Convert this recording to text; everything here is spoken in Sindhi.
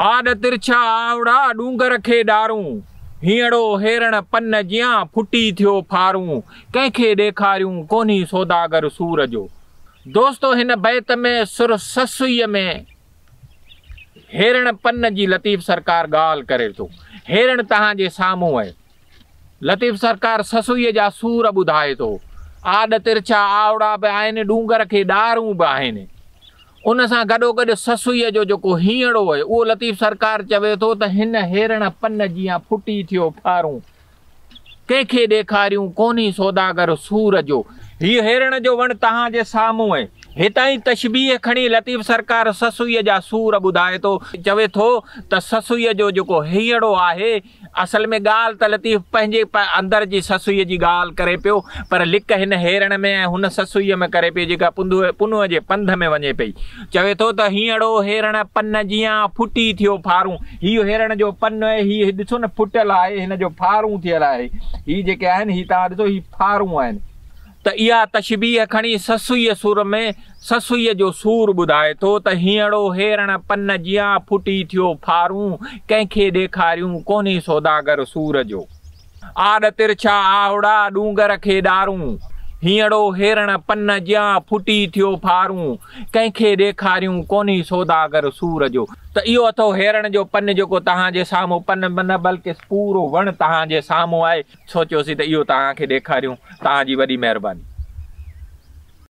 آڏ ترڇا آنوڙا ڏونگر کي ڏارون، هينئڙو هيرڻ پن جيان ڦٽي ٿيو ڦارون، ڪنهن کي ڏيکاريون ڪونهي سوداگر سور جو. دوستو هن بيت ۾ سر سسئيء ۾ هيرڻ پن جي لطيف سرڪار ڳالهه ڪري ٿو. هيرڻ توهان جي سامهون آهي. لطيف سرڪار سسئيء جا سور ٻڌائي ٿو. آڏ ترڇا آوڙا به آهن، ڏونگر کي ڏارون به آهن. ان سان گڏوگڏ سسئيء جو جيڪو هينئڙو اهي، اهو لطيف سرڪار چوي ٿو ته هن هيرڻ پن جيان ڦٽي ٿيو ڦارون ڪنهن کي ڏيکاريون، ڪونهي سوداگر سور جو. هيء هيرڻ جو وڻ توهان جي سامهون اهي. هتائين تشبيهه کڻي لطيف سرڪار سسئيء جا سور ٻڌائي ٿو. چوي ٿو ته سسئيء جو جيڪو هينئڙو آهي، اصل ۾ ڳالهه ته لطيف پنهنجي پ اندر جي سسئيء جي ڳالهه ڪري پيو، پر لڪ هن هيرڻ ۾ ۽ هن سسئيء ۾ ڪري پيو جيڪا پنڌوء پنهونء جي پنڌ ۾ وڃي پئي. چوي ٿو ته هينئڙو هيرڻ پن جيان، ڦٽي ٿيو ڦارون. هيء هيرڻ جو پن اهي هي ڏسو نه ڦٽل آهي، هن جو ڦارون ٿيل آهي. هي جيڪي آهن، هي توهان ڏسو، هي ڦارون آهن. ته اها تشبيهه کڻي سسئيء سر ۾ سسئيء جو سور ٻڌائي ٿو ته هينئڙو هيرڻ پن جيان ڦٽي ٿيو ڦارون ڪنهن کي ڏيکاريون ڪونهي سوداگر سور جو آڏ ترڇا آهوڙا ڏونگر کي ڏارون هينئڙو هيرڻ پن جيان ڦٽي ٿيو ڦارون ڪنهن کي ڏيکاريون ڪونهي سوداگر سور جو ته اهو اٿو هيرڻ جو پن جيڪو توهان جي سامهون پن نه بلڪه پورو وڻ توهان جي سامهون آهي. سوچيوسين ته اهو توهان کي ڏيکاريون توهان جي وڏي مهرباني.